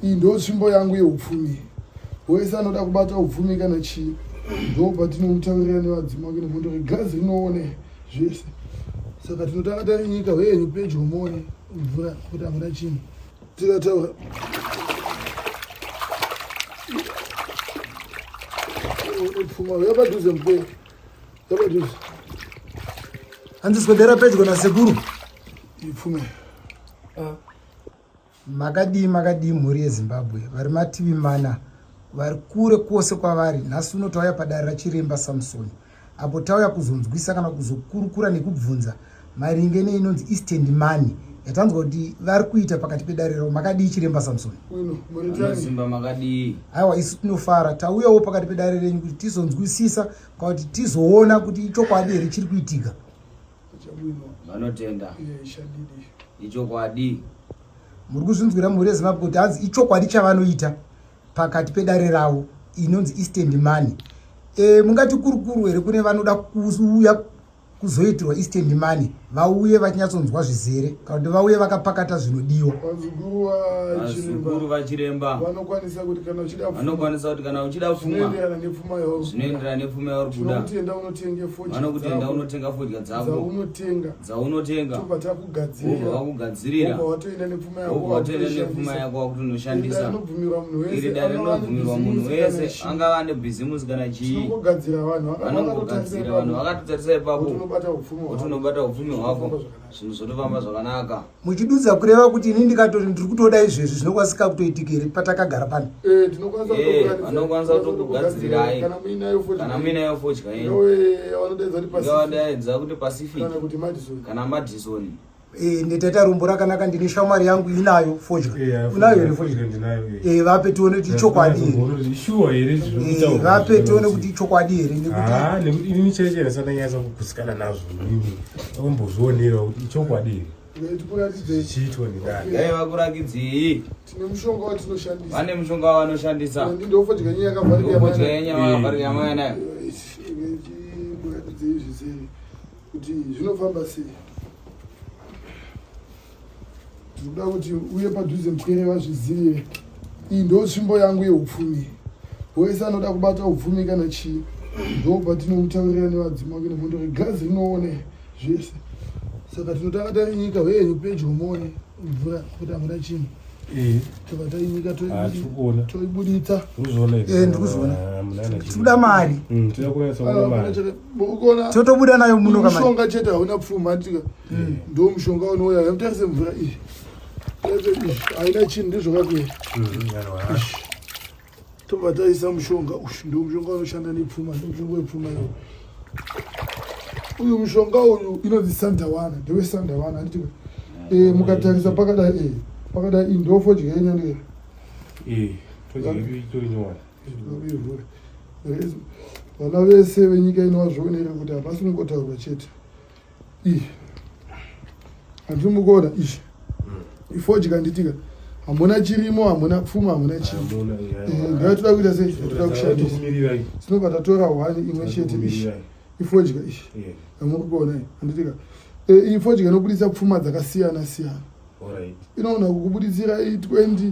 iyi ndo tsvimbo yangu yeupfumi wese anoda kubata upfumi kana chii ndo patinokutaurira nevadzimu wake nemhondo regazi rinoone zvese saka tinotanga tarinyika hweyenyu pedyo muone mvura kuti hamuna chinhu tikataura pfuma uya padhuze mukwe uya padhuze hanzi swedera pedyo nasekuru ipfume ah. Makadii makadii mhuri yeZimbabwe vari mativi mana vari kure kwose kwavari nhasi uno tauya padare rachiremba Samson apo tauya kuzonzwisa kana kuzokurukura nekubvunza maringe neinonzi eastend money yatanzwa kuti vari kuita pakati pedare ravo makadii chiremba Samson Simba makadii aiwa isu tinofara tauyawo pakati pedare renyu kuti tizonzwisisa kana kuti tizoona kuti ichokwadi here chiri kuitika vanotenda ichokwadi muri kuzvinzwira mhuri yezimbabwe kuti hanzi ichokwadi chavanoita pakati pedare ravo inonzi eastend money e, mungati kurukuru here kune vanoda kuuya kuzoitirwa eastend money vauye vachinyatsonzwa zvizere kana kuti vauye vakapakata zvinodiwa vanokwanisa kuti kana uchida fuma zvinoenderana nepfuma yauri kuda vanokutenda unotenga fodya dzakodzaunotenga dzaunotenga tobva takugadzirira vakugadzirira watoenda nepfuma yako watoenda nepfuma yako wakuti unoshandisa iri dare rinobvumirwa munhu wese angava ane bhizimusi kana chii vanongogadzira vanhu vakatotarisa ipapo kuti unobata upfumi hwako zvinhu zvotofamba zvakanaka muchidudza kureva kuti ini ndikatori ndiri kutoda izvezvi zvinokwanisika kutoitika here patakagara pano eh, anokwanisa eh, kutokugadzirirai kana muinayo fodya yenuadaidza kuti pacific kana madison eh, ndetaita rombo rakanaka ndine shamwari yangu inayo fodya unayo here fodya vape tione kuti ichokwadi here vape tione kuti ichokwadi here nekuti ah, ombozvionerawo kuti ichokwadi here dai vakurakidzei vane mushonga wavanoshandisa ndofodya nyaya yakavarira mwana nayo kuti zvinofamba sei Ndikuda kuti uye padhuze mupwere vazvizive. Iyi ndo tsvimbo yangu yeupfumi. Wese anoda kubata upfumi kana chii. Ndobva tinoutaurira nevadzima kuenda mondo regazi rinoone zvese. Saka tinotanga tainyika hweyenyu pedyo mone mvura kuti hamuna chinhu. Eh. Tobva tainyika ah, toibuditsa. Ndikuzoona. Eh, Tikuda mari. Mm, Tikuda mari. mukukona totobuda nayo muno kama mushonga chete hauna pfuma atika hmm. ndo mushonga unouya yamutarise mvura iyi haina chinhu ndizvokakuya hmm, tobva taisa mushonga uyu ndo mushonga unoshanda nepfuma ndo mushonga wepfuma iyo uyu mushonga uyu inonzi sandawana ndewe sandawana anditi eh, mukatarisa pakadai eh, pakadai indofo dyaenyandira eh, vana vese venyika ino vazvionere kuti hapasi kungotaurwa chete ii handiri mukona izvi ifodya nditika hamuna chirimo hamuna pfuma hamuna chii eh, ndatoda kuita sei toda kushandisa sinobva tatora one imwe chete ishi ifodya ishi hamuri kuona handitika eh, ifodya inobudisa pfuma dzakasiyana siyana inoona kukubuditsira i20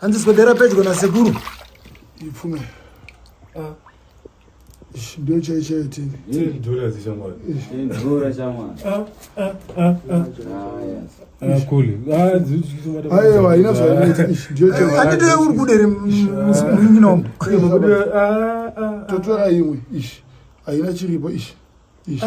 hanzi swedera pedyo nasekuru ipfume ah. ndo chai chaitini dhura dzishamwari dhura shamwari aiwa haina zvainoita ndo chaanditoya uri kuderi munyinomo totora imwe ishi haina chiripo ishi ishi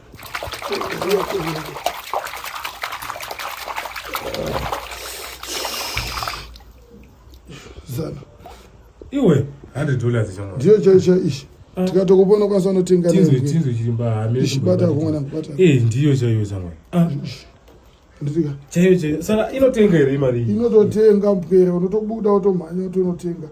zana iwe 100 dollars chama ndiyo chaisha ishi ah. tikatokupona kwanisa unotenga tinzwe tinzwe chiri mbahame ishi bata kumwana bata eh ndiyo chaiyo chama ah. nditika chaiyo chaiyo saka inotenga here imari inototenga mpere unotobuda utomhanya utonotenga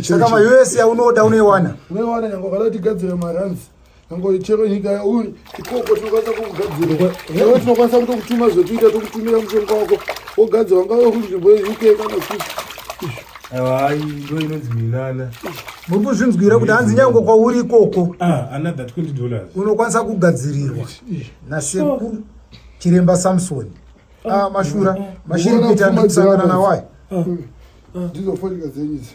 Saka ma usa unoda unoiwana unoiwana nyange ukada kuti gadzire maranzi Nango chero nyika yauri ikoko tinokwanisa kugadzirwa. Ewe tinokwanisa kuto kutuma zvekuita tokutumira mushonga wako wogadzirwa ngawe uri kunzvimbo yeUK kana kuti. Hayi ndo inonzi minana. Muri kuzvinzwira kuti hanzi nyango kwauri ikoko. Ah, another 20 dollars. Unokwanisa kugadzirirwa. Nasekuru Chiremba Samson. Ah, mashura. Mashiri kuita ndisangana nawayi. Ndizofonika dzenyisa.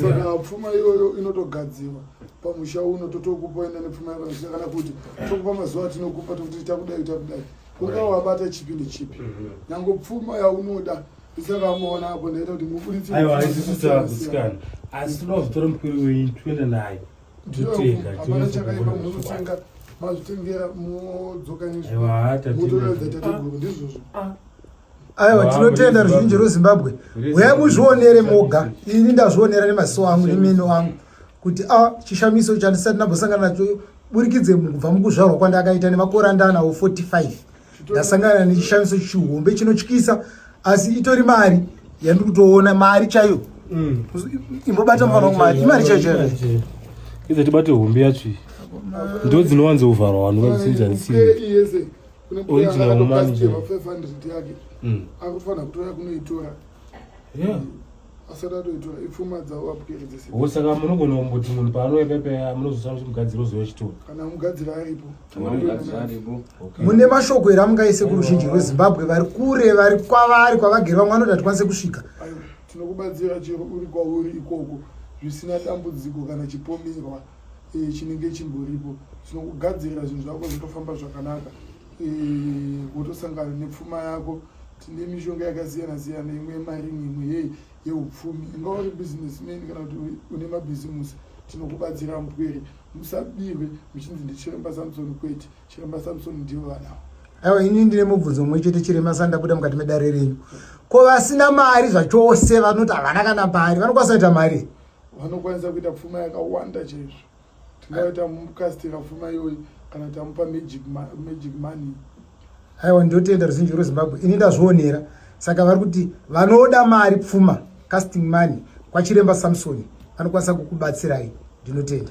saka pfuma iyoyo inotogadzirwa pamusha uno totokupa enda nepfuma yapamusha kana kuti tokupa mazuva atinokupa tokuti takudai takudai kunga wabata chipi nechipi mhm. nyange pfuma yaunoda isakamuona apo ndaita kuti muburitseaiwaisisitakusikana asi tinoda kuzotora mukuru wenyu tiende naye totengahapana chakaipa munotenga mazvitengera modzoka nezvimotoredza tateguru ndizvozvo ah, ah. aiwa tinotenda ruzhinji rwezimbabwe huyai muzvionere moga ini ndazvionera nemaziso angu nemeno angu kuti a ah, chishamiso chandisati ndambosangana nacho burikidze kubva mukuzvarwa kwandakaita nemakore andanawo 45 ndasangana nechishamiso chihombe chinotyisa asi itori mari yandiri kutoona mari chaiyo mm. imbobata mufana wangu mari imari chaiyo chaiyo idzo tibate hombe yacho ndo dzinowanzovharwa vanhu vakusinzanisiya kune mbuya Original yakatopastirwa manager. 500 yake Mm. akufanira kutora kunoitora Yeah. asati atoitora ipfuma dzavo vabukeredzese Oh, saka munogona kumboti munhu paanouya pepe munozosara kuti mugadziri ozouya chitori kana mugadzira aripo Okay. mune mashoko here amungaise kuruzhinji rwezimbabwe vari kure vari kwavari kwavagere vamwe vanoti hatikwanise kusvika Aiwa, tinokubatsira chero uri kwauri ikoko zvisina dambudziko kana chipomerwa e, chinenge chimboripo zvino kugadzirira zvinhu zvako zvitofamba zvakanaka wotosangana e, nepfuma yako tine mishonga yakasiyana siyana imwe yemaringi imwe ye yeupfumi inga uri business man kana kuti une mabhizimusi tinokubatsira mupwere musabirwe muchinzi ndichiremba samsoni kwete chiremba samsoni ndivo vanawo aiwa ini ndine mubvunzo mumwe chete chirema sandabuda mukati medare renyu ko vasina mari zvachose vanoti havana kana mari vanokwanisa kuita mari vanokwanisa kuita pfuma yakawanda chaizvo tingave tamukastira pfuma iyoyi kana tamupa magic money aiwa ndotenda ruzhinji rwezimbabwe ini ndazvionera saka vari kuti vanoda mari pfuma casting money kwachiremba samsoni vanokwanisa kukubatsirai ndinotenda